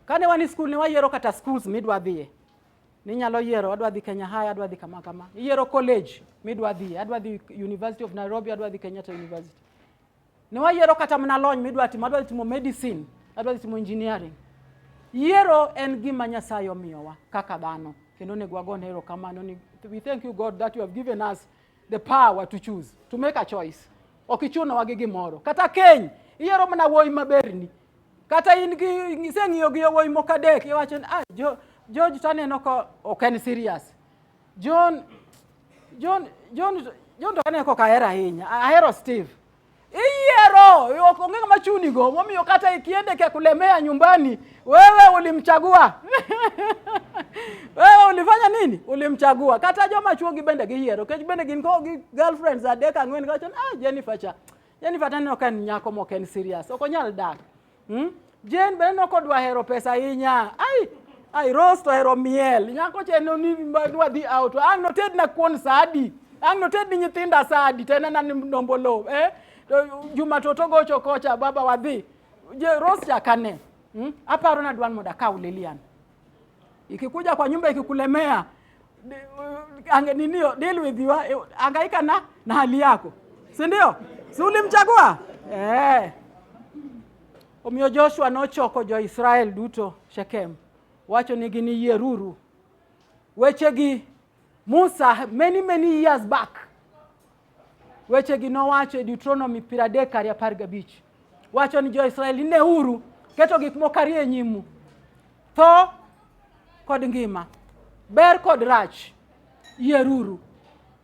Kane wan e skul ne wayiero kata schools midwa dhiye. Ninyalo yiero adwa dhi Kenya High, adwa dhi kama kama. Iyiero college midwa dhiye, adwa dhi University of Nairobi, adwa dhi Kenyatta University. Ne wayiero kata mana lony midwa timo, adwa timo medicine, adwa timo engineering. Yiero en gima Nyasaye omiyowa kaka dhano kendo onego wagone erokamano ni we thank you God that you have given us the power to choose to make a choice. Ok ichuno wagi gimoro kata keny iyiero mana wuoyi maberni kata in gi iseng'iyo gi yowuoyi moko adek iwacho ni ah, jo, George to aneno ka ok en serious John John John John to aneno ka ok ahero ahinya ahero Steve Iyiero, onge ng'ama chunigo, momiyo kata ikiende kia kulemea nyumbani, wewe ulimchagua wewe ulifanya nini? Ulimchagua. Kata joma chuo gi bende giyiero, kech bende gin ko gi girlfriends adek ang'wen kacho, ah Jennifer cha Jennifer taneno ka en nyako mok en serious, ok onyal dak. Hmm? Jane be aneno kodwa hero pesa ahinya. Ai, ai Rose to hero miel. Nyako che no ni wadhi out. Ang' notedna kuon sadi. Ang' notedni nyithinda sadi. To enena ni nombolo. Eh? To Juma to togocho kocha baba wadhi. Je, Rose chakane. Hmm? Aparo na dwan moda kaw Lilian. Ikikuja kwa nyumba ikikulemea, ange ninio deal with you, eh, angaika na na hali yako, si ndio? Si ulimchagua eh? Omiyo Joshua nochoko jo-Israel duto Shekem, wacho nigi ni yieruru wechegi Musa many many years back wechegi nowacho e Deuteronomy piero adek ariyo apar gabich wacho ni jo-Israel neuru keto gik moko ariyo e nyimu tho kod ngima ber kod rach yieruru